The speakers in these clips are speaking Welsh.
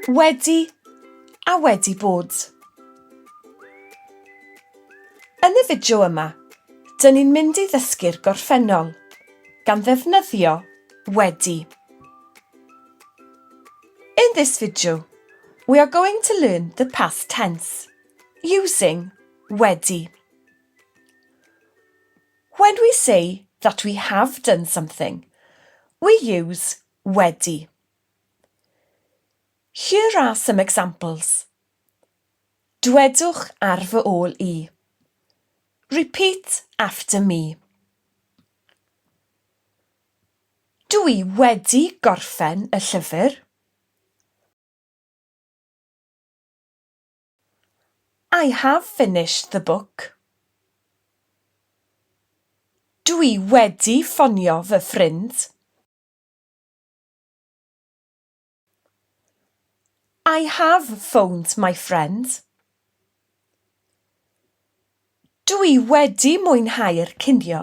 Wedi a wedi bod. Yn y fideo yma, dyn ni'n mynd i ddysgu'r gorffennol, gan ddefnyddio wedi. In this video, we are going to learn the past tense, using wedi. When we say that we have done something, we use wedi. Here are some examples. Dwedwch ar fy ôl i. Repeat after me. Dw i wedi gorffen y llyfr. I have finished the book. Dwi wedi ffonio fy ffrind. I have phoned my friend. Dwi wedi mwynhau'r cinio.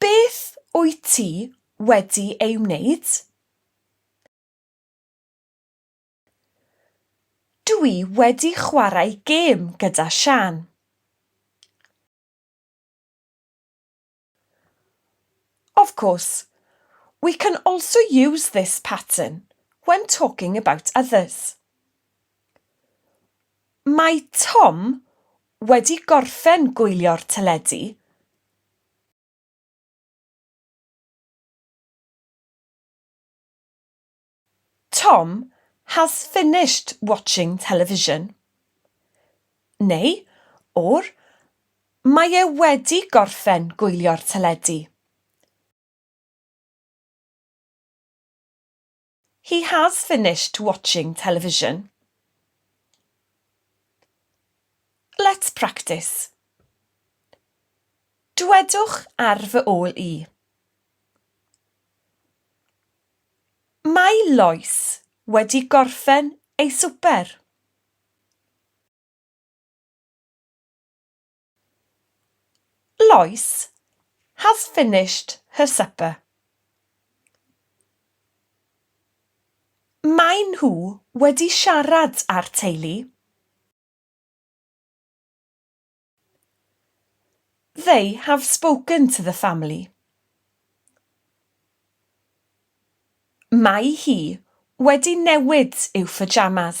Beth wyt ti wedi ei wneud? Dw i wedi chwarae gêm gyda Siân. Of course, we can also use this pattern when talking about others. Mae Tom wedi gorffen gwylio'r teledu. Tom has finished watching television. Neu, or, Mae e wedi gorffen gwylio'r teledu. He has finished watching television. Let's practice. Dwedwch ar fy ôl i. Mae Lois wedi gorffen ei swper. Lois has finished her supper. Maen nhw wedi siarad â'r teulu. They have spoken to the family. Mae hi wedi newid i'w pyjamas.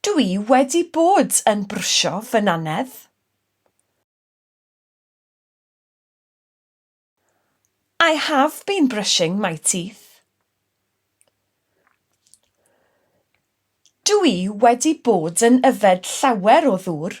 Dw i wedi bod yn brwsio fy nannedd. I have been brushing my teeth. Dw i wedi bod yn yfed llawer o ddŵr.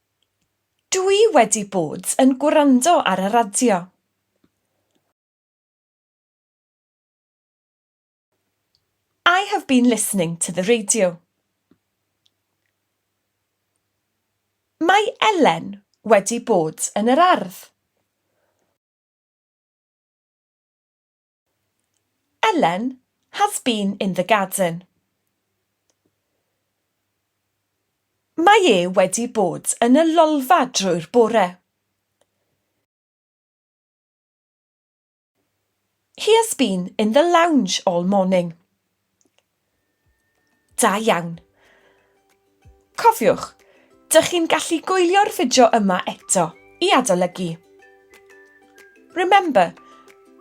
Dw i wedi bod yn gwrando ar y radio. I have been listening to the radio. Mae Elen wedi bod yn yr ardd. Ellen has been in the garden. Mae e wedi bod yn y lolfa drwy'r bore. He has been in the lounge all morning. Da iawn. Cofiwch, dych chi'n gallu gwylio'r fideo yma eto i adolygu. Remember,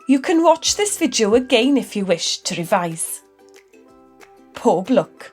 you can watch this video again if you wish to revise. Pob lwc.